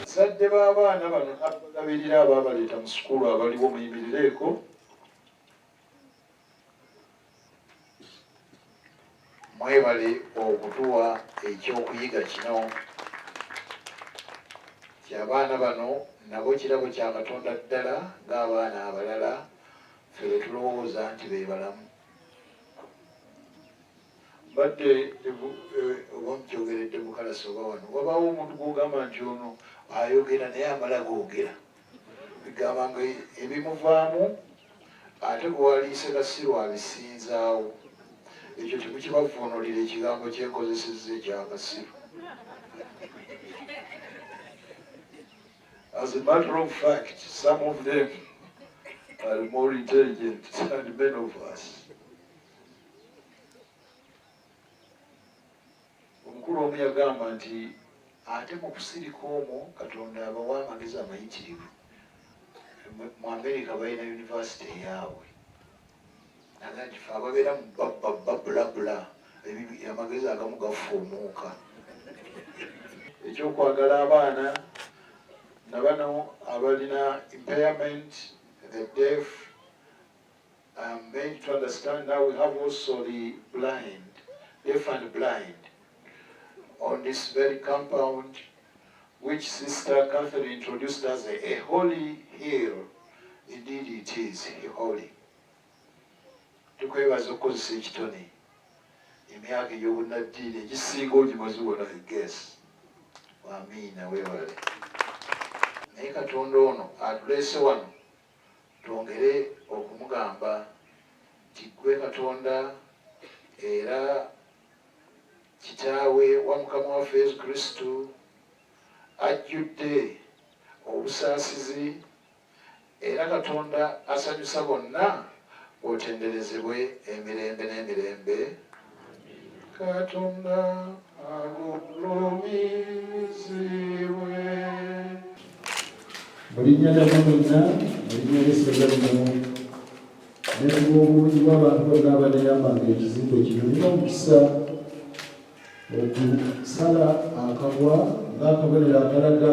Bazadde b'abaana bano abalabirira abaabaleeta mu sukulu abaliwo muyimirireeko. Mwebale okutuwa ekyokuyiga kino kyabaana bano nabo kirabo kya Katonda ddala ng'abaana abalala ffe bwe tulowooza nti be balamu. mbadde wamukyogeredde mukalasi oba wano wabaawo omuntu gwogamba nti ono ayogera naye amala googera bigamba nga ebimuvaamu ate gwewaliise kasiru abisinzaawo ekyo temukibavuunulira ekigambo kyenkozeseza ekyakasiru as a matter of fact some of them are more intelligent than many of us omukulu omu yagamba nti ate mu kusirika omwo katonda abawa amagezi amayitirivu mu amerika balina univesity eyaabwe nagagife ababeera mu babulabula amagezi agamu gafuumuuka ekyokwagala abaana na bano abalina impairment the deaf I'm going to understand now we have also the blind, deaf and blind on this very compound which Sister Catherine introduced as a, a holy hill. Indeed it is holy. tukwebaza okukozesa ekitone emyaka ey'obunnaddiini egisinga ogimazi wona egesi wamiina wewale naye katonda ono atuleese wano twongere okumugamba nti gwe katonda era kitaawe wa mukama waffe yesu kristu ajjudde obusaasizi era katonda asanyusa bonna otenderezebwe emirembe n'emirembe katonda agulumizibwe mulinnya lya mumina mulinnya lyesebya lino nebwobungi bwabantu bonna abaneyambanga ekizimbe kino nina omukisa okusala akabwa ngaakabonero akalaga